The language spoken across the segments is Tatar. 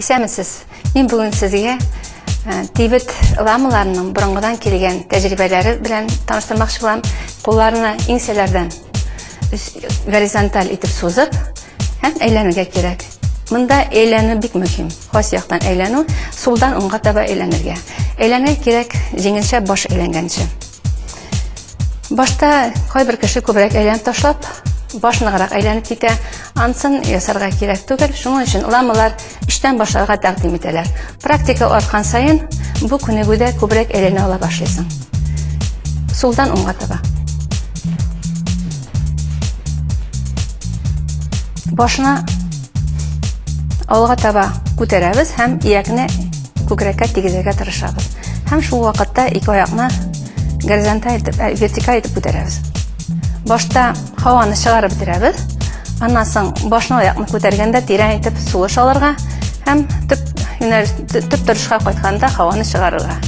Исәмесез. Мин бүген сезгә э, тибет ламаларының борынгыдан килгән тәҗрибәләре белән таныштырмакчы булам. Кулларны иңсәләрдән горизонталь итеп сузып һәм әйләнергә кирәк. Монда әйләнү бик мөһим. Хас яктан әйләнү, сулдан уңга таба әйләнергә. Әйләнергә кирәк җиңелчә баш әйләнгәнче. Башта кайбер кеше күбрәк әйләнеп ташлап, башныграк әйләнеп китә. Ансын ясарга кирәк түгел. Шуның өчен ламалар эштән башларга тәкъдим итәләр. Практика арткан саен бу күнегүдә күбрәк әйләнә ала башлыйсың. Сулдан уңга таба. Башны алга таба күтәрәбез һәм иякне Күкрәккә тигезергә тырышабыз һәм шул вакытта ике аякны горизонталь итеп, ә, вертикаль итеп күтәрәбез. Башта һаваны чыгарып бетерәбез. Аннан соң башны аякны күтәргәндә тирән итеп сулыш алырга һәм төп юнәлеш, төп торышка кайтканда һаваны чыгарырга.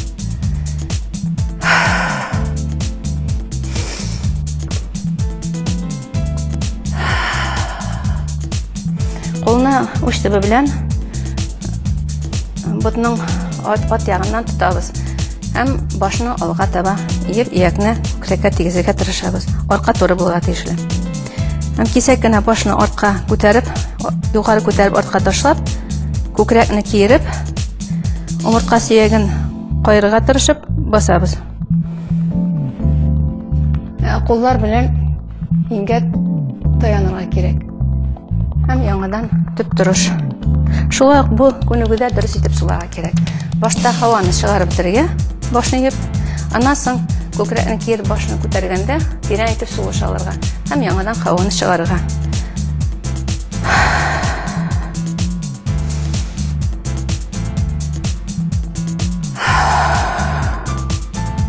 Кулны уч төбе белән Ботның ат, ат ягыннан тотабыз һәм башны алга таба иеп, иякне күкрәккә тигезергә тырышабыз. Арка туры булырга тиешле. Һәм кисәк кенә башны артка күтәреп, югары күтәреп артка ташлап, күкрәкне киереп, омыртка сөяген каерырга тырышып басабыз. Ә куллар белән Иңгә таянырга кирәк. Һәм яңадан төп торыш. Шулай ук бу күнегүдә дөрес итеп суларга кирәк. Башта һаваны чыгарып бергә башны йып, аннан соң күкрәкне киереп башны күтәргәндә тирән итеп сулыш алырга һәм яңадан һаваны чыгарырга.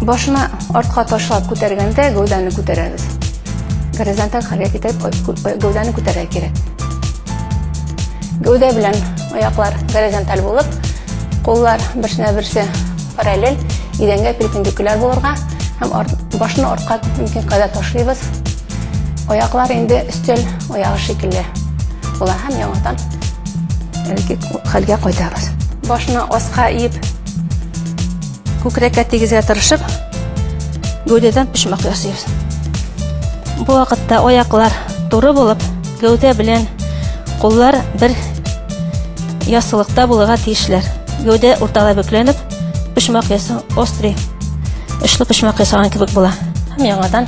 Башны артка ташлап күтәргәндә гәүдәне күтәрәбез. Горизонталь хәрәкәт итеп гәүдәне күтәрә кирәк. Гәүдә белән аяклар горизонталь булып, куллар берсенә берсе параллель, идәнгә перпендикуляр булырга һәм башны артка мөмкин кадәр ташлыйбыз. Аяклар инде өстәл аягы шикелле була һәм яңадан әлеге хәлгә кайтабыз. Башны аска иеп, күкрәккә тигезгә тырышып, гәүдәдән почмак ясыйбыз. Бу вакытта аяклар туры булып, гәүдә белән куллар бер яссылыкта булырга тиешләр. Гәүдә уртада бөкләнеп, почмак ясау острый, очлы почмак ясаган кебек була. Һәм яңадан